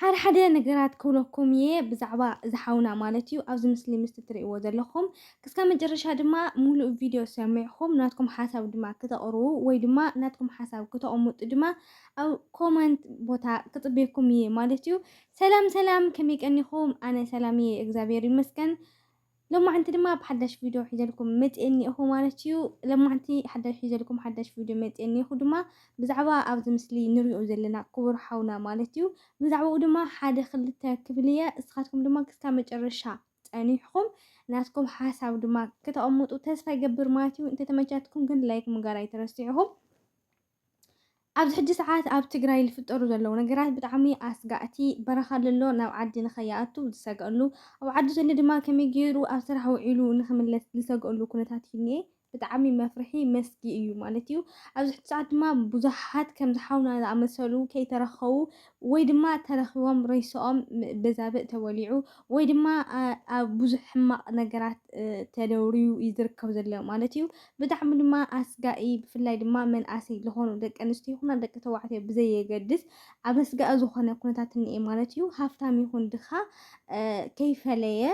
ሓደ ሓደ ነገራት ክብለኩም እየ ብዛዕባ እዚ ሓውና ማለት እዩ ኣብዚ ምስሊ ምስቲ ትርእይዎ ዘለኹም ክስካብ መጨረሻ ድማ ሙሉእ ቪድዮ ሰሚዕኹም ናትኩም ሓሳብ ድማ ክተቕርቡ ወይ ድማ ናትኩም ሓሳብ ክተቕምጡ ድማ ኣብ ኮመንት ቦታ ክፅበየኩም እየ ማለት እዩ ሰላም ሰላም ከመይ ቀኒኹም ኣነ ሰላም እየ እግዚኣብሔር ይመስገን ሎማዕንቲ ድማ ብሓዳሽ ቪድዮ ሒዘልኩም መጽኤ እኒኤኹ ማለት እዩ። ሎማዕንቲ ሓዳሽ ሒዘልኩም ሓዳሽ ቪድዮ መጽኤ እኒኤኹ ድማ ብዛዕባ ኣብዚ ምስሊ ንሪኦ ዘለና ክቡር ሓውና ማለት እዩ። ብዛዕባኡ ድማ ሓደ ክልተ ክብል እየ። እስኻትኩም ድማ ክስካብ መጨረሻ ጸኒሕኹም ናትኩም ሓሳብ ድማ ከተቐምጡ ተስፋ ይገብር ማለት እዩ። እንተተመቻትኩም ግን ላይክ ምጋር ኣይትረስዑ። ኣብዚ ሕጂ ሰዓት ኣብ ትግራይ ዝፍጠሩ ዘለዉ ነገራት ብጣዕሚ ኣስጋእቲ በረኻ ለሎ ናብ ዓዲ ንኸይኣቱ ዝሰግኣሉ ኣብ ዓዲ ዘሎ ድማ ከመይ ገይሩ ኣብ ስራሕ ውዒሉ ንኽምለስ ዝሰግኣሉ ኩነታት እዩ እኒኤ ብጣዕሚ መፍርሒ መስጊ እዩ ማለት እዩ ኣብዚ ሕጂ ሰዓት ድማ ብዙሓት ከምዚ ሓውና ዝኣመሰሉ ከይተረኸቡ ወይ ድማ ተረኪቦም ሬሰኦም በዛብእ ተበሊዑ ወይ ድማ ኣብ ብዙሕ ሕማቅ ነገራት ተደውርዩ እዩ ዝርከብ ዘሎ ማለት እዩ። ብጣዕሚ ድማ ኣስጋኢ ብፍላይ ድማ መንኣሰይ ዝኾኑ ደቂ ኣንስትዮ ይኹና ደቂ ተባዕትዮ ብዘየገድስ ኣብ ኣስጋኢ ዝኾነ ኩነታት እንኤ ማለት እዩ። ሃፍታም ይኹን ድኻ ከይፈለየ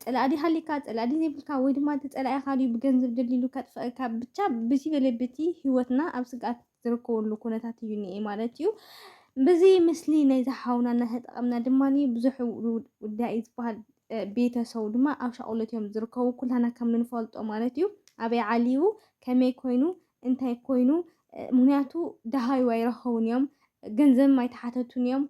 ጸላኢ ድዩ ሃልዩካ ጸላኢ ድዩ ዘይብልካ ወይ ድማ እቲ ጸላኢኻ ድዩ ብገንዘብ ደልዲሉ ከጥፍኣካ ብቻ ብዝይ በለ በቲ ህይወትና ኣብ ስግኣት ዝርከበሉ ኩነታት እዩ እኒኤ ማለት እዩ። በዚ ምስሊ ናይዚ ሓውና እናተጠቐምና ድማ ብዙሕ ውዳኢ ዝበሃል ቤተሰቡ ድማ ኣብ ሻቕሎት እዮም ዝርከቡ ኩላና ከም ንፈልጦ ማለት እዩ ኣበይ ዓልዩ ከመይ ኮይኑ እንታይ ኮይኑ ምክንያቱ ደሃዩ ኣይረኸቡን እዮም ገንዘብም ኣይተሓተቱን እዮም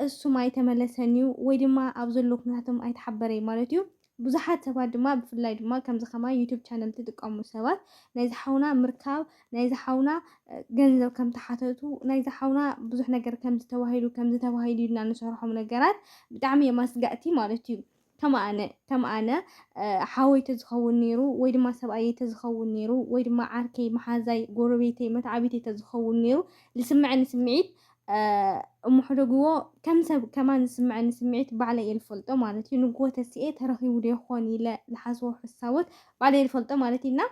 እሱም ኣይተመለሰን እዩ ወይ ድማ ኣብ ዘሎ ኩነታቶም ኣይተሓበረይ ማለት እዩ ብዙሓት ሰባት ድማ ብፍላይ ድማ ከምዚ ከማይ ዩቱብ ቻነል ትጥቀሙ ሰባት ናይዚ ሓውና ምርካብ ናይዚ ሓውና ገንዘብ ከም ተሓተቱ ናይዚ ሓውና ብዙሕ ነገር ከምዚ ተባሂሉ ከምዚ ተባሂሉ ኢልና ንሰርሖም ነገራት ብጣዕሚ እዮም ኣስጋእቲ ማለት እዩ ከም ኣነ ከም ኣነ ሓወይ ተዝኸውን ነይሩ ወይ ድማ ሰብኣየይ ተዝኸውን ነይሩ ወይ ድማ ዓርከይ መሓዛይ ጎረቤተይ መትዓቢተይ ተዝኸውን ነይሩ ዝስምዐኒ ስምዒት እሞ ሕደግዎ ከም ሰብ ከማን ዝስምዐኒ ስምዒት ባዕለይ እየ ዝፈልጦ ማለት እዩ ንግዎ ተሲኤ ተረኺቡ ዶ ይኾን ኢለ ዝሓስቦ ሕሳቦት ባዕለይ ዝፈልጦ ማለት እዩና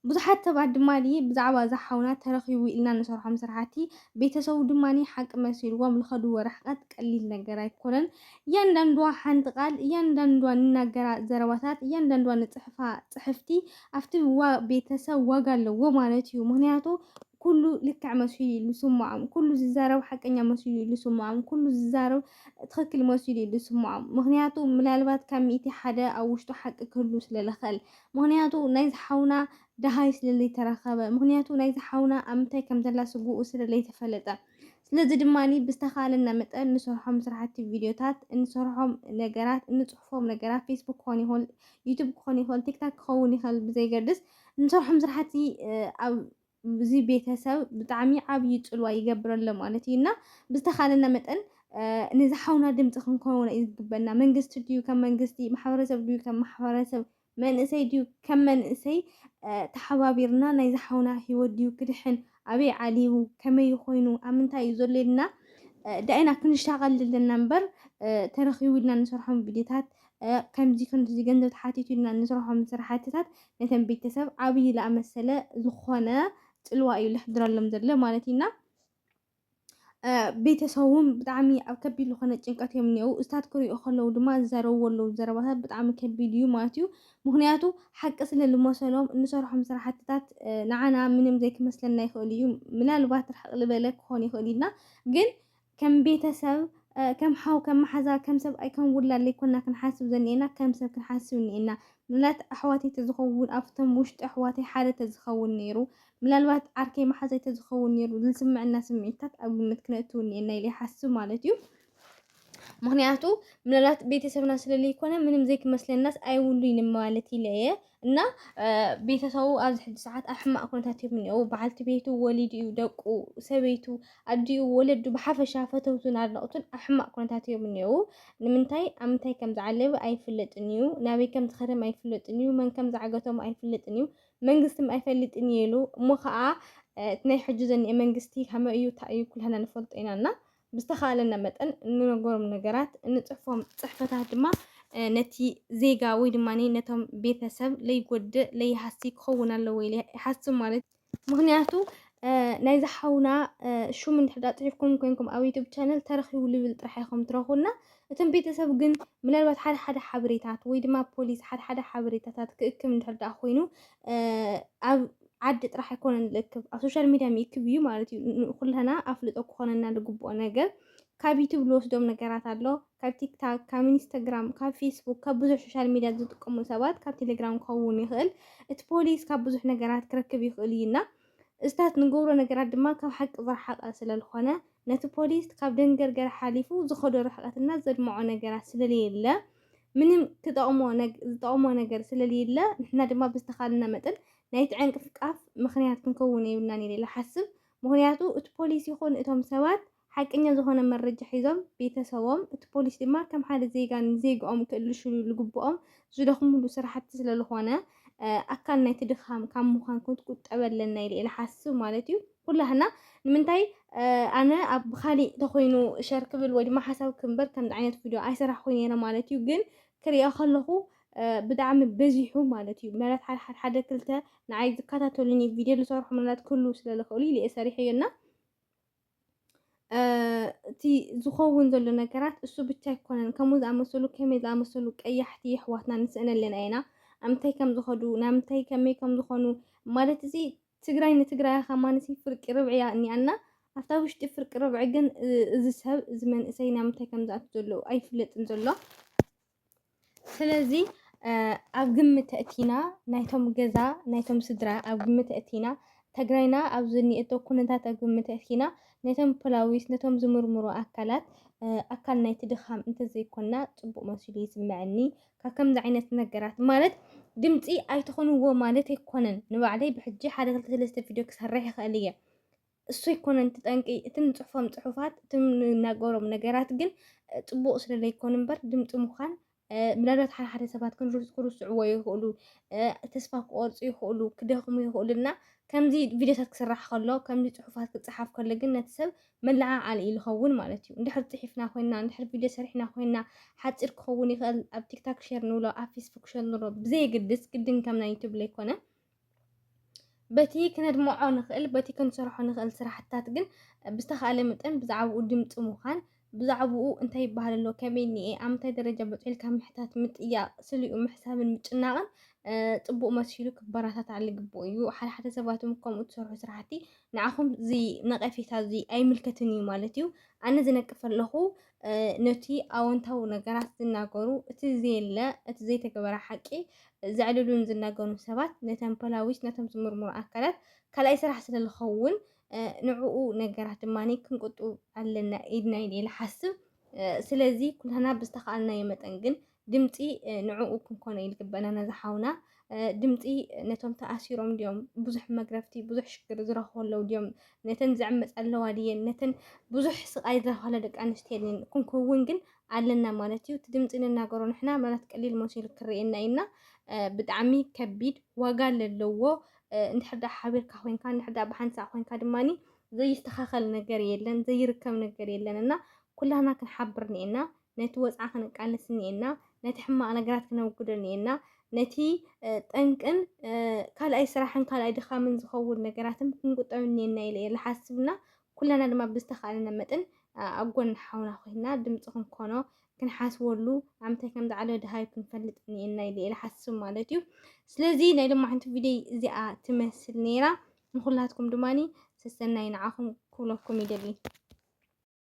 ብዙሓት ሰባት ድማ ብዛዕባ እዛ ሓውና ተረኺቡ ኢልና ንሰርሖም ስራሕቲ ቤተሰቡ ድማ ሓቂ መሲልዎም ዝኸድዎ ርሕቀት ቀሊል ነገር ኣይኮነን እያንዳንዷ ሓንቲ ቃል እያንዳንዷ ንናገራ ዘረባታት እያንዳንዷ ንፅሕፋ ፅሕፍቲ ኣብቲ ቤተሰብ ዋጋ ኣለዎ ማለት እዩ ምክንያቱ ኩሉ ልክዕ መሲሉ እዩ ዝስምዖም፣ ኩሉ ዝዛረብ ሓቀኛ መሲሉ እዩ ዝስምዖም፣ ኩሉ ዝዛረብ ትኽክል መሲሉ እዩ ዝስምዖም። ምክንያቱ ምናልባት ካብ ሚእቲ ሓደ ኣብ ውሽጡ ሓቂ ክህሉ ስለ ዝኽእል። ምክንያቱ ናይ ዝሓውና ደሃይ ስለ ዘይተረኸበ፣ ምክንያቱ ናይ ዝሓውና ኣብ ምንታይ ከም ዘላ ስግኡ ስለ ዘይተፈለጠ። ስለዚ ድማ ብዝተኻእለና መጠን እንሰርሖም ስራሕቲ ቪድዮታት፣ እንሰርሖም ነገራት፣ እንፅሕፎም ነገራት ፌስቡክ ክኾን ይኽእል፣ ዩቱብ ክኾን ይኽእል፣ ቲክታክ ክኸውን ይኽእል ብዘይገድስ እንሰርሖም ስራሕቲ ኣብ እዚ ቤተሰብ ብጣዕሚ ዓብዪ ፅልዋ ይገብረሎ ማለት እዩ እና ብዝተኻእለና መጠን ነዚ ሓውና ድምፂ ክንከውን እዩ ዝግበና። መንግስቲ ድዩ ከም መንግስቲ፣ ማሕበረሰብ ድዩ ከም ማሕበረሰብ መንእሰይ ድዩ ከም መንእሰይ ተሓባቢርና ናይዛ ሓውና ሂወት ድዩ ክድሕን ኣበይ ዓሊቡ ከመይ ኮይኑ ኣብ ምንታይ እዩ ዘሎ ኢልና ዳኢና ክንሻቐል ዘለና እምበር ተረኺቡ ኢልና ንሰርሖም ቪድዮታት ከምዚ ከምዚ ገንዘብ ተሓቲቱ ኢልና ንሰርሖም ስራሕትታት ነተን ቤተሰብ ዓብዪ ዝኣመሰለ ዝኾነ ፅልዋ እዩ ለሕድረሎም ዘሎ ማለት እዩና ቤተሰቡ እውን ብጣዕሚ ኣብ ከቢድ ዝኾነ ጭንቀት እዮም እኒአው እስታት ክሪኦ ከለዉ ድማ ዝዘረብዎ ኣለዉ ዘረባታት ብጣዕሚ ከቢድ እዩ ማለት እዩ ምክንያቱ ሓቂ ስለ ዝመሰሎም እንሰርሖም ስራሕትታት ንዓና ምንም ዘይክመስለና ይኽእል እዩ ምናልባት ርሕቅ ዝበለ ክኾን ይኽእል እዩና ግን ከም ቤተሰብ ከም ሓው ከም መሓዛ ከም ሰብ ኣይ ከም ውላድ ዘይኮና ክንሓስብ ዘኒኤና ከም ሰብ ክንሓስብ እኒኤና ምላት ኣሕዋተይ ተዝኸውን ኣብቶም ውሽጢ ኣሕዋተይ ሓደ ተዝኸውን ነይሩ ምናልባት ዓርከይ መሓዛይ ተዝኸውን ነይሩ ዝስምዐና ስምዒትታት ኣብ ግምት ክነእቱ እኒኤና ኢለ ይሓስብ ማለት እዩ። ምክንያቱ ምናልባት ቤተሰብና ስለለይኮነ ምንም ዘይክመስለናስ ኣይብሉይን ማለት ኢለ እየ እና ቤተሰቡ ኣብዚ ሕጂ ሰዓት ኣብ ሕማቅ ኩነታት እዮም እኒአው በዓልቲ ቤቱ ወሊዱ እዩ ደቁ ሰበይቱ ኣዲኡ ወለዱ ብሓፈሻ ፈተውቱን ኣድነቕቱን ኣብ ሕማቅ ኩነታት እዮም እኒአው ንምንታይ ኣብ ምንታይ ከም ዝዓለበ ኣይፍለጥን እዩ ናበይ ከም ዝኸደም ኣይፍለጥን እዩ መን ከም ዝዓገቶም ኣይፍለጥን እዩ መንግስቲ እምበኣር ኣይፈልጥን እየ ኢሉ እሞ ከኣ እቲ ናይ ሕጂ ዘኒኤ መንግስቲ ከመይ እዩ እንታይ እዩ ኩላህና ንፈልጦ ኢና እና ብዝተኻለና መጠን እንነገሮም ነገራት እንጽሕፎም ጽሕፈታት ድማ ነቲ ዜጋ ወይ ድማ ነቶም ቤተሰብ ለይጎድእ ለይሃሲ ክኸውን ኣለዎ ኢለ ይሓስብ ማለት ምክንያቱ ናይ ዝሓውና ሹም እንድሕዳ ጽሒፍኩም ኮይንኩም ኣብ ዩቱብ ቻነል ተረኪቡ ልብል ጥራሕ ኢኹም ትረኽቡና እቶም ቤተሰብ ግን ምናልባት ሓደ ሓደ ሓበሬታት ወይ ድማ ፖሊስ ሓደ ሓደ ሓበሬታታት ክእክብ እንድሕር ደኣ ኮይኑ ኣብ ዓዲ ጥራሕ ኣይኮነን ዝእክብ ኣብ ሶሻል ሚድያ ይእክብ እዩ ማለት እዩ። ንኩልና ኣፍልጦ ክኾነና ዝግብኦ ነገር ካብ ዩቱብ ዝወስዶም ነገራት ኣሎ፣ ካብ ቲክታክ፣ ካብ ኢንስታግራም፣ ካብ ፌስቡክ፣ ካብ ብዙሕ ሶሻል ሚድያ ዝጥቀሙ ሰባት ካብ ቴሌግራም ክኸውን ይኽእል። እቲ ፖሊስ ካብ ብዙሕ ነገራት ክረክብ ይኽእል እዩና እዚታት ንገብሮ ነገራት ድማ ካብ ሓቂ ዝረሓቐ ስለዝኾነ ነቲ ፖሊስ ካብ ደንገርገር ሓሊፉ ዝኸዶ ርሕቐት እና ዘድምዖ ነገራት ስለልየለ ምንም ክጠቕሞ ዝጠቕሞ ነገር ስለልየለ ንሕና ድማ ብዝተኻልና መጠን ናይ ትዕንቅፍቃፍ ምክንያት ክንከውን የብልናን ኢለ ሓስብ ምክንያቱ እቲ ፖሊስ ይኹን እቶም ሰባት ሓቀኛ ዝኾነ መረጃ ሒዞም ቤተሰቦም እቲ ፖሊስ ድማ ከም ሓደ ዜጋ ንዜግኦም ክእልሽሉ ልግብኦም ዝደኽምሉ ስራሕቲ ስለልኾነ ኣካል ናይቲ ድኻም ካብ ምዃን ክንቁጠብ ኣለና ኢለ ኢለ ሓስብ ማለት እዩ ኩላህና ንምንታይ ኣነ ኣብ ብካሊእ ተኮይኑ ሸር ክብል ወይ ድማ ሓሳብ ክምበር ከምዚ ዓይነት ቪድዮ ኣይሰራሕኩ ነይረ ማለት እዩ ግን ክሪኦ ከለኹ ብጣዕሚ በዚሑ ማለት እዩ ምናልባት ሓደ ሓደ ሓደ ክልተ ንዓይ ዝከታተሉኒ ቪድዮ ዝሰርሑ ምናልባት ክህልው ስለዝኽእሉ ኢለ እየ ሰሪሐዮ እና እቲ ዝኸውን ዘሎ ነገራት እሱ ብቻ ኣይኮነን ከምኡ ዝኣመሰሉ ከመይ ዝኣመሰሉ ቀያሕቲ የሕዋትና ንስእነለን ኣለና ኣብ ምንታይ ከም ዝኸዱ ናብ ምንታይ ከመይ ከም ዝኾኑ ማለት እዚ ትግራይ ንትግራያ ከማንሲ ፍርቂ ርብዒ እያ እኒኣና ኣብታ ውሽጢ ፍርቂ ርብዒ ግን እዚ ሰብ እዚ መንእሰይ ናብ ምንታይ ከም ዝኣቱ ዘሎ ኣይፍለጥን ዘሎ ስለዚ ኣብ ግምት እቲና ናይቶም ገዛ ናይቶም ስድራ ኣብ ግምት እቲና ትግራይና ኣብ ዝኒኤቶ ኩነታት ኣብ ግምት እቲና ነቶም ፖላዊስ ነቶም ዝምርምሩ ኣካላት ኣካል ናይቲ ድኻም እንተዘይኮና ፅቡቅ መሲሉ ይስምዐኒ ካብ ከምዚ ዓይነት ነገራት ማለት ድምፂ ኣይትኾንዎ ማለት ኣይኮነን። ንባዕለይ ብሕጂ ሓደ ክልተ ሰለስተ ቪድዮ ክሰርሕ ይኽእል እየ። እሱ ኣይኮነን እቲ ጠንቂ፣ እቲ ንፅሑፎም ፅሑፋት፣ እቲ ንናገሮም ነገራት ግን ፅቡቕ ስለ ዘይኮኑ እምበር ድምፂ ምዃን ምናልባት ሓደ ሓደ ሰባት ክርስዕዎ ይኽእሉ፣ ተስፋ ክቆርፁ ይኽእሉ፣ ክደኽሙ ይኽእሉ እና ከምዚ ቪድዮታት ክስራሕ ከሎ ከምዚ ፅሑፋት ክፀሓፍ ከሎ ግን ነቲ ሰብ መለዓዓሊ እዩ ልኸውን ማለት እዩ እንድሕር ፅሒፍና ኮይና እንድሕር ቪድዮ ሰሪሕና ኮይና ሓፂር ክኸውን ይኽእል ኣብ ቲክታክ ሼር ንብሎ ኣብ ፌስቡክ ሸር ንብሎ ብዘየግድስ ግድን ከም ናይ ዩቱብ ለይኮነ በቲ ክነድምዖ ንኽእል በቲ ክንሰርሖ ንኽእል ስራሕትታት ግን ብዝተኻእለ መጠን ብዛዕባኡ ድምፂ ምዃን ብዛዕባኡ እንታይ ይበሃል ኣሎ ከመይ እኒኤ ኣብ ምንታይ ደረጃ በፂሑ ኢልካ ምሕታት ምጥያቕ ስሊኡ ምሕሳብን ምጭናቕን ፅቡቕ መሲሉ ክበረታታዕ ልግብኡ እዩ ሓደሓደ ሰባትም ከምኡ ትሰርሑ ስራሕቲ ንዓኹም እዚ ነቐፌታ እዚ ኣይምልከትን እዩ ማለት እዩ ኣነ ዝነቅፍ ኣለኹ ነቲ ኣወንታዊ ነገራት ዝናገሩ እቲ ዘየለ እቲ ዘይተገበረ ሓቂ ዘዕልሉን ዝናገኑ ሰባት ነተን ፖላዊስ ነቶም ዝምርምሩ ኣካላት ካልኣይ ስራሕ ስለ ዝኸውን ንዕኡ ነገራት ድማ ክንቁጡ ኣለና ኢድና ኢለ ይሓስብ ስለዚ ኩላና ብዝተኸኣልናዮ መጠን ግን ድምፂ ንዕኡ ክንኮነ ኢሉ ግበና ነዚ ሓውና ድምፂ ነቶም ተኣሲሮም ድዮም ብዙሕ መግረፍቲ ብዙሕ ሽግር ዝረኽቡ ኣለዉ ድዮም ነተን ዝዕመፅ ኣለዋ ድየን ነተን ብዙሕ ስቃይ ዝረኽባለ ደቂ ኣንስትዮ ድየን ክንከውን ግን ኣለና ማለት እዩ እቲ ድምፂ ንናገሮ ንሕና ምናልባት ቀሊል መሲሉ ክርኤና እዩና ብጣዕሚ ከቢድ ዋጋ ለለዎ እንድሕር ዳኣ ሓቢርካ ኮንካ እንድሕር ዳኣ ብሓንሳእ ኮንካ ድማኒ ዘይስተኻኸል ነገር የለን ዘይርከብ ነገር የለን እና ኩላና ክንሓብር ኒኤና ነቲ ወጽዓ ክንቃለስ እኒኤና፣ ነቲ ሕማቕ ነገራት ክነውግዶ እኒኤና፣ ነቲ ጠንቅን ካልኣይ ስራሕን ካልኣይ ድኻምን ዝኸውን ነገራትም ክንቁጠብ እኒኤና ኢለ እየ ልሓስብ እና ኩላና ድማ ብዝተኻእለና መጥን ኣብ ጎኒ ሓውና ኮይንና ድምጺ ክንኮኖ ክንሓስበሉ ኣምታይ ከም ዝዓለወ ድሃዩ ክንፈልጥ እኒኤና ኢለ እየ ልሓስብ ማለት እዩ። ስለዚ ናይ ሎማዓንቲ ቪድዮይ እዚኣ ትመስል ነይራ። ንኹላትኩም ድማኒ ሰሰናይ ንዓኹም ክብለኩም ይደሊ።